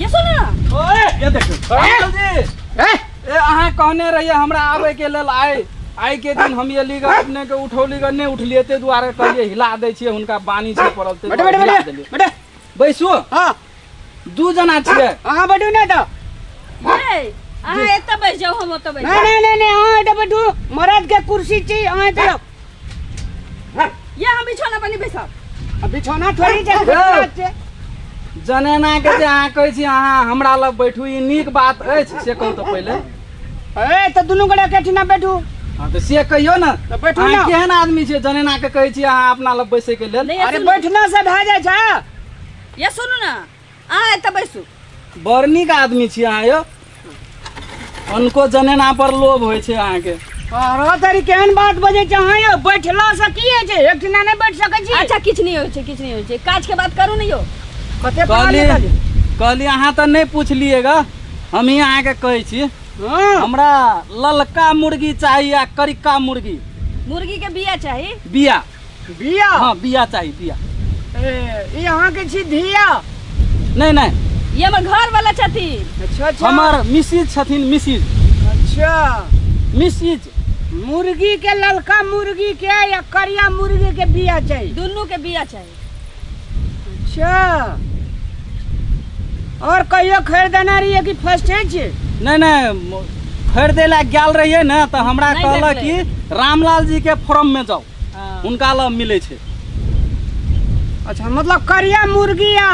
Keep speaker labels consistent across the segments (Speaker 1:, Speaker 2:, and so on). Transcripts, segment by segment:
Speaker 1: ये सुन
Speaker 2: ना ओए ये देखियो
Speaker 1: अंकल जी ए ए अहाँ कहने रहिए हमरा आबे के लेल आए आइ के दिन हम ये लीग अपने के उठौली के नहि उठलिए ते दुआरे कहलिए हिला दै छिए हुनका बानी छै पड़ल ते बैठे बैठे हिला बैठे देलिए
Speaker 3: बैठे बैसु
Speaker 1: हाँ
Speaker 3: दू जना
Speaker 1: छिए अहाँ बैठू ने तऽ
Speaker 3: ये
Speaker 2: अहाँ एतऽ बैस जाओ हम ओतऽ बैस नहीं नहीं नहीं नहीं अहाँ एतऽ
Speaker 3: बैठू मरद के कुर्सी छी अहाँ एतऽ जाउ।
Speaker 2: ये हम बिछौना पर नहीं बैसब आ बिछौना थोड़ी जे बिछौना
Speaker 3: छै। जनेना
Speaker 1: के जे अहाँ कहै छी अहाँ हमरा लग बैठू ई नीक बात अछि से कहू तऽ पहिले ए तऽ
Speaker 3: दुनू गोरे एकेठिना बैठू हँ तऽ से कहियौ
Speaker 1: ने तऽ बैठू अहाँ ने केहन
Speaker 3: आदमी छियै
Speaker 1: जनेना के कहै छी अहाँ अपना लग बैसै के लेल नहीं ये अरे सुनू बैठना से
Speaker 2: भए
Speaker 3: जाइ छै ये सुनू
Speaker 2: ना अहाँ एतऽ बैसू बड़ नीक
Speaker 1: आदमी छी अहाँ यौ हुनको जनेना पर लोभ होइ छै अहाँके अरे तरी केहन
Speaker 3: बात बजे छै अहाँ यौ बैठला से की होइ छै एक ठिना नहि बैठ सकै छी अच्छा किछु नहि होइ छै किछु नहि
Speaker 2: होइ छै काज के बात करू ने यौ कते पढ़ल कहली लिखल छी?
Speaker 3: कहली अहाँ तऽ
Speaker 1: नहि पुछलिए ग हमही अहाँके कहै छी हँ हमरा ललका मुर्गी चाही आ करिका मुर्गी मुर्गी के बिया
Speaker 2: चाही बिया
Speaker 1: बिया हाँ
Speaker 3: बिया चाहिए
Speaker 1: बिया ए, ई
Speaker 3: अहाँके छी धिया नहीं
Speaker 1: नहीं ये हमर घर वाला
Speaker 2: छथिन अच्छा अच्छा हमार
Speaker 3: मिसिज छथिन
Speaker 1: मिसिज अच्छा
Speaker 3: मिसिज
Speaker 1: मुर्गी
Speaker 3: के ललका मुर्गी के या करिया मुर्गी के बिया चाहिए दुनू के बिया चाही अच्छा और कहियो खरीद देना रहिए कि फर्स्ट है जी नहीं नहीं
Speaker 1: खरीदे ला गल रहिए ना तो हमरा कहला कि
Speaker 2: रामलाल जी के
Speaker 1: फॉर्म में जाओ हाँ। उनका ला
Speaker 2: मिले छे
Speaker 3: अच्छा मतलब करिया मुर्गी या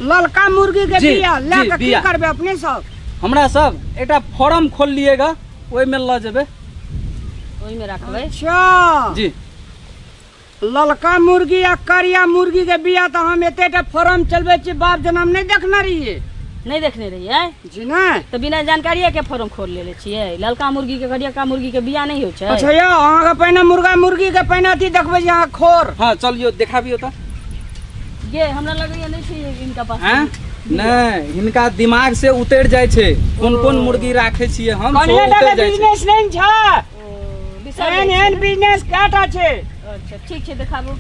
Speaker 3: ललका मुर्गी के बिया ले के की
Speaker 1: करबे
Speaker 3: अपने सब हमरा सब
Speaker 1: एटा फॉर्म खोल लिएगा ओई में ल जेबे ओई
Speaker 2: में रखबे अच्छा जी
Speaker 3: ललका मुर्गी आ करिया मुर्गी के बिया तऽ हम एतेटा फॉर्म चलबै छी बाप जना हम नहि देखने रहियै नहीं देखने रहियै
Speaker 2: जी नहि तऽ
Speaker 3: बिना जानकारिये के
Speaker 2: फॉर्म खोल लेले छियै ललका मुर्गी के करियका मुर्गी के बिया नहीं होइ छै अच्छा यौ अहाँके पहिने
Speaker 3: मुर्गा मुर्गी के पहिने अथी देखबै छी अहाँ खोर हाँ चलियो देखाबियो
Speaker 1: तऽ ये
Speaker 2: हमरा लगैया नहीं छै इनका पास हैं? नहि
Speaker 1: हिनका दिमाग से उतरि जाइ छै कोन कोन मुर्गी राखै छियै हम सेहो कनिया उतरि टा जाइ छै बिजनेस
Speaker 3: नहि छै एहन
Speaker 2: एहन बिजनेस
Speaker 3: काटा छै
Speaker 2: अच्छा
Speaker 3: ठीक छै
Speaker 2: देखाबू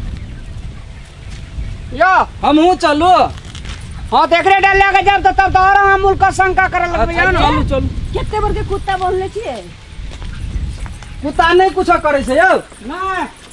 Speaker 3: यो हमहू चलू
Speaker 1: हाँ तो
Speaker 3: एकरे डाल लेके जब तो तब तो और हम उनका शंका करे लगबे अच्छा, ना चलू चलू
Speaker 1: कते
Speaker 3: बड़के
Speaker 1: कुत्ता
Speaker 2: बोलले छियै
Speaker 1: कुत्ता नहीं कुछ करे छै यौ ना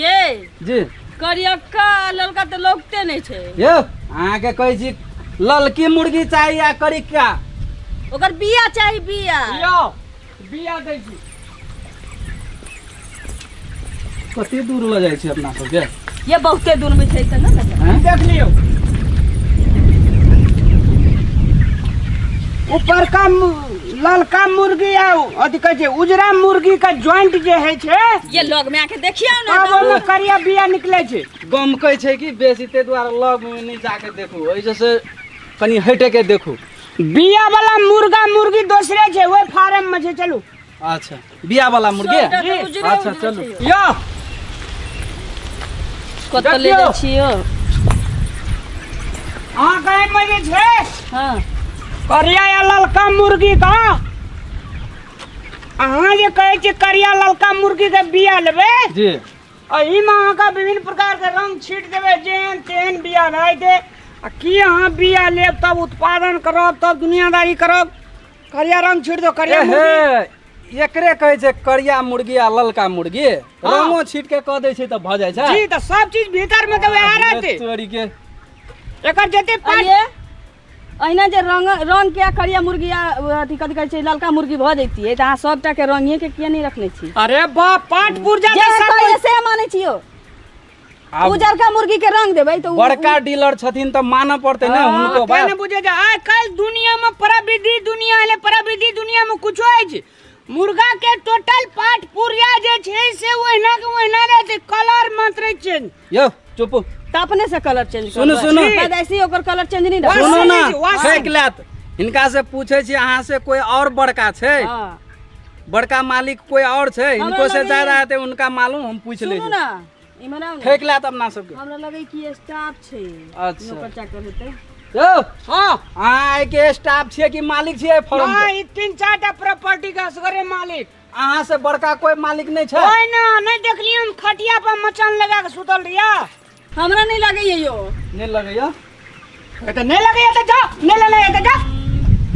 Speaker 3: ये जी
Speaker 1: करियक्का
Speaker 2: आ ललका तऽ लौकते नहि छै यौ अहाँके
Speaker 1: कहै छी ललकी मुर्गी चाही आ करिका ओकर
Speaker 2: बिया चाही बिया यौ
Speaker 3: बिया दै छी
Speaker 1: कते दूर लऽ जाइ छी अपना सबके ये बहुते दूर
Speaker 2: में छै तऽ नहि ने हैं? देख लियौ
Speaker 3: ऊपर का मु- ललका मुर्गी आ अथी कहै छै उजरा मुर्गी के ज्वाइंट जे होइ छै ये लग में आके
Speaker 2: देखियो ना तब ओहिमे करिया बिया
Speaker 3: निकलै छै गमकै छै कि
Speaker 1: बेसी ताहि दुआरे लग मे नहि जाके देखू ओहि जे से कनि हटि के देखू बिया वाला
Speaker 3: मुर्गा मुर्गी दोसरे छै ओहि फार्म में छै चलू अच्छा
Speaker 1: बिया वाला मुर्गी सबटा तऽ उजरे अच्छा उजरे
Speaker 2: चलू छै। यो कतऽ ले जाइ छी यौ
Speaker 3: अहाँ कहे में जे छै हँ
Speaker 2: करिया या
Speaker 3: ललका मुर्गी का अहाँ जे कहे छी करिया ललका मुर्गी के बिया लेबे जी
Speaker 1: एही में
Speaker 3: अहाँ का विभिन्न प्रकार के रंग छीट देबे जेहन तेहन बिया भए दे आ की अहाँ बिया लेब तब उत्पादन करब तब दुनियादारी करब करिया रंग छोड़ दो करिया मुर्गी एकरे कहे छै
Speaker 1: करिया मुर्गी आ ललका मुर्गी हाँ। रंगो छीट के कह दे छै त भ जाय छै जी त सब चीज
Speaker 3: भीतर में त वैह रहते चोरी के
Speaker 1: एकर
Speaker 3: जते पानी
Speaker 2: अहिना जे रंग रंग के करिया मुर्गी आ अथी कथि कहै छै ललका मुर्गी भ जैतिए त अहाँ सबटा के रंगे के किया नहीं रखने छी अरे
Speaker 3: बा
Speaker 2: पांच
Speaker 3: पुर्जा
Speaker 2: जे सब कहिए से
Speaker 3: माने
Speaker 2: छियो
Speaker 1: आब उजरका मुर्गी के
Speaker 2: रंग देबै तऽ उ- बड़का डीलर छथिन
Speaker 1: तऽ मानऽ पड़तै ने हुनको हाँ, बात कहने बुझे जा आइ
Speaker 3: काल्हि दुनिया में प्रविधि दुनिया है प्रविधि दुनिया में कुछो अछि मुर्गा के टोटल पार्ट पुर्जा जे छै से ओहिना के ओहिना रहते कलर मात्र चेंज यौ चुप
Speaker 1: तऽ अपने से कलर
Speaker 2: चेंज सुनू, सुनू। ऐसे
Speaker 1: ओकर कलर
Speaker 2: चेंज नहि रहत सुनू ने वासन अछि,
Speaker 3: वासन।
Speaker 1: छेक
Speaker 2: लेत
Speaker 1: हिनका से पूछे छी अहाँ से कोई और बड़का छै हाँ।
Speaker 2: बड़का
Speaker 1: मालिक कोई और छै हमरा इनको से लगे- ज्यादा हेतै
Speaker 2: उनका मालूम
Speaker 1: हम पूछ ले सुनू ना इमहर आउ ना
Speaker 2: ठेक लात अपना सबके
Speaker 1: हमरा लगे कि
Speaker 2: स्टाफ
Speaker 1: छै
Speaker 2: अच्छा। नौकर चाकर हेतै
Speaker 1: यौ हाँ
Speaker 3: अहाँ आइ के
Speaker 1: स्टाफ छियै कि मालिक छियै फॉर्म हाँ, के ई तीन चार टा
Speaker 3: प्रॉपर्टी का असगरे मालिक अहाँ से बड़का
Speaker 1: कोई मालिक नहि छै ओए ना नहीं देखली
Speaker 3: हम खटिया पर मचान लगा के सुतल रिया हमरा नहीं
Speaker 2: लगे ये यो नहीं लगे यो ए तो नहीं
Speaker 1: लगे ये तो जा नहीं
Speaker 3: लगे ये तो जा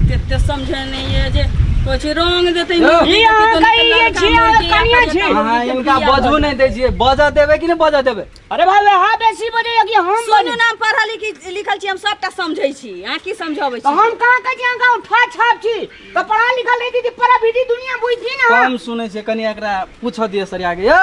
Speaker 3: केते
Speaker 2: समझे नहीं ये जे कुछ रंग देते यो। नहीं ई अहाँ का
Speaker 1: ई ये
Speaker 3: छी,
Speaker 2: अहाँ
Speaker 3: कनिया
Speaker 2: छी।
Speaker 3: हां इनका
Speaker 2: बजबो
Speaker 1: नहीं
Speaker 2: दे छिए बजा
Speaker 1: देबे कि नहीं बजा देबे अरे भाई वे हां बेसी
Speaker 3: बजे कि हम सुनू बजे नाम पढ़ा लिखी
Speaker 2: लिखल छी हम सबटा समझै छी अहाँ की समझबै तो छी हम कहां के जां
Speaker 3: गांव ठा छाप छी तो पढ़ा लिखल रही थी परा भीडी दुनिया बुझी ना कम सुनै छै कनी
Speaker 1: एकरा पूछ दिए सर आगे यो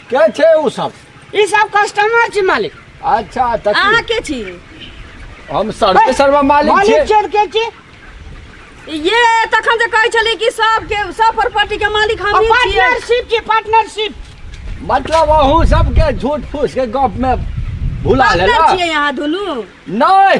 Speaker 4: के छै ओ सब ई सब कस्टमर
Speaker 3: छी मालिक अच्छा तऽ अहाँ
Speaker 4: की? के छी
Speaker 2: हम
Speaker 4: सर्वे सर्वा मालिक मालिक छियै चोर के छी
Speaker 2: ये तखन जे कहै छली कि सब के सब प्रॉपर्टी के मालिक हम ही छियै पार्टनरशिप छी पार्टनरशिप
Speaker 3: मतलब
Speaker 4: अहूँ सबके झूठ फूस के गप में भुला पार्टनर लेला छियै अहाँ
Speaker 2: दुनू नहि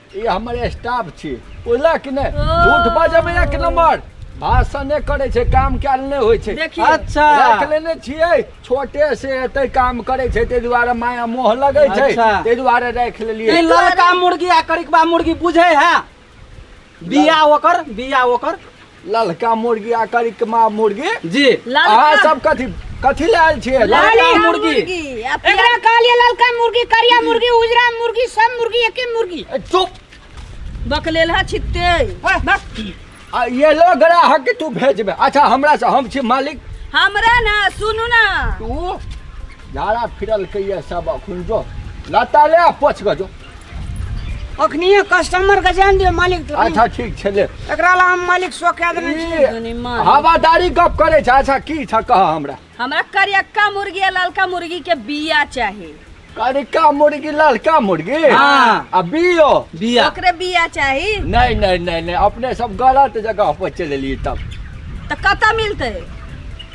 Speaker 1: ई हमर स्टाफ
Speaker 4: छी बुझला कि नहि झूठ बाजैमे
Speaker 2: एक
Speaker 4: नंबर भाषण नहि करै छै काम कयल नहि होइ छै देखियौ। अच्छा। राखि
Speaker 2: लेने
Speaker 1: छियै
Speaker 4: छोटे से एते काम करै छै ताहि दुआरे माया मोह लगै छै अच्छा। ताहि दुआरे राखि लेलियै ई ललका
Speaker 1: मुर्गी
Speaker 4: आ
Speaker 1: करिकबा मुर्गी बुझे है बिया ओकर बिया ओकर ललका
Speaker 4: मुर्गी आ करिकमा मुर्गी जी ललका- अहाँ
Speaker 1: सब कथी
Speaker 2: कथी ले
Speaker 4: आयल छियै ललका ललका मुर्गी। मुर्गी
Speaker 2: आ पियर-
Speaker 1: एकरा
Speaker 2: कहलिए
Speaker 3: ललका
Speaker 2: मुर्गी
Speaker 3: करिया मुर्गी उजरा मुर्गी सब मुर्गी एके मुर्गी ए, चुप
Speaker 4: बकलेल
Speaker 2: है छित्ते
Speaker 4: आ ये लो ग्राहक के तू भेजबे अच्छा हमरा से हम छी मालिक हमरा ना
Speaker 2: सुनू ना तू
Speaker 4: झाड़ा फिरल कहिए सब अखुन जो लता ले आ पोछ गजो
Speaker 3: अखनिए कस्टमरके जान दियौ मालिक तोरा। अच्छा ठीक छलै
Speaker 4: एकरा ला हम मालिक
Speaker 3: सो कए देने छियै दुनी मार। हवादारी
Speaker 2: गप करै
Speaker 4: छ अच्छा की छ कह हमरा हमरा करियक्का
Speaker 2: मुर्गी आ ललका मुर्गी के बिया चाही करिका
Speaker 4: मुर्गी ललका मुर्गी हाँ। आ बियो बिया ओकरे बिया
Speaker 1: चाही
Speaker 2: नहीं नहीं नहीं नहीं
Speaker 4: अपने सब गलत जगह पर चललिए तब तऽ कतऽ
Speaker 2: मिलतै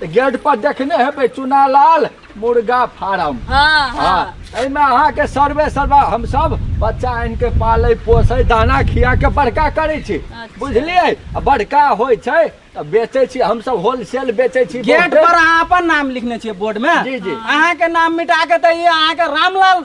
Speaker 1: तऽ गेट
Speaker 4: पर देखने हेबै चुनालाल मुर्गा फार्म हाँ हाँ हाँ
Speaker 2: एहिमे अहाँके
Speaker 4: सर्वे सर्वा हमसभ बच्चा आनि के पालै पोसै दाना खिया के बड़का करै छी अच्छा। बुझलियै
Speaker 2: आ
Speaker 4: बड़का होइ छै तऽ बेचै छी हमसभ होलसेल बेचै छी गेट बहुते। पर अहाँ अपन
Speaker 1: नाम लिखने छियै बोर्ड मे जी, जी। अहाँ के नाम
Speaker 4: मिटा
Speaker 1: के तऽ ई अहाँ के रामलाल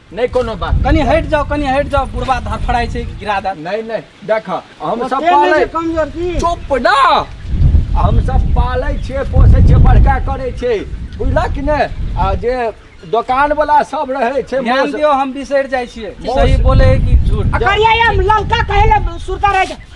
Speaker 4: नहि कोनो बात कनि हटि जाउ कनि हटि
Speaker 1: जाउ बुढ़बा धड़फड़ाइ छै गिरा दे नहि नहि देख
Speaker 4: हम सब पालै कमजोर
Speaker 3: की
Speaker 4: चुप
Speaker 3: ना
Speaker 4: हम सब पालै छियै पोसै छियै बड़का करै छियै बुझलक कि नहि आ जे दोकान वाला सब रहै छै ध्यान मौस- दियौ हम बिसरि
Speaker 1: जाइ छियै मौस- सही बोले है कि झूठ करिया या ललका
Speaker 3: कहे ले सुरता रह जा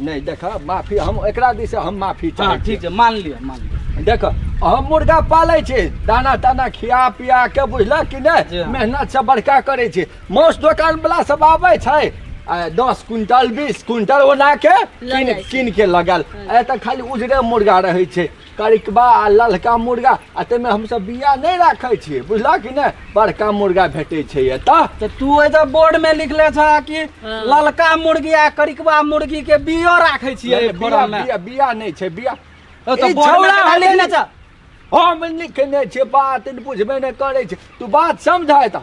Speaker 4: नहि देख माफी हम एकरा दिस हम माफी चाहै हँ ठीक छै मान लिअ
Speaker 1: मान लिअ देख हम
Speaker 4: मुर्गा पालै छी दाना ताना खिया पिया के बुझलक कि नहि हाँ। मेहनत
Speaker 1: से
Speaker 4: बड़का
Speaker 1: करै
Speaker 4: छी मौस दोकान वाला सब आबै छै दस क्विंटल बीस क्विंटल ओना के कीन के
Speaker 2: लगल
Speaker 4: हाँ। एतऽ खाली उजरे मुर्गा रहै छै करिकबा आ ललका मुर्गा आ ताहिमे हमसभ बिया नहि राखै छियै बुझलह कि नहि बड़का मुर्गा भेटै छै एतऽ तऽ तू ओहि तऽ
Speaker 1: बोर्ड में लिखले छ कि हाँ। ललका मुर्गी आ करिकबा मुर्गी के बियो राखे छियै एहि बिया फोरम में बिया बिया
Speaker 4: नहि
Speaker 1: छै बिया
Speaker 4: ओ तऽ ई बोर्ड में छौड़ा
Speaker 1: तऽ हलै
Speaker 4: लिखले ने। छ
Speaker 1: हम
Speaker 4: लिखने छियै बात बुझबे नहि करै छै तू बात समझ एतऽ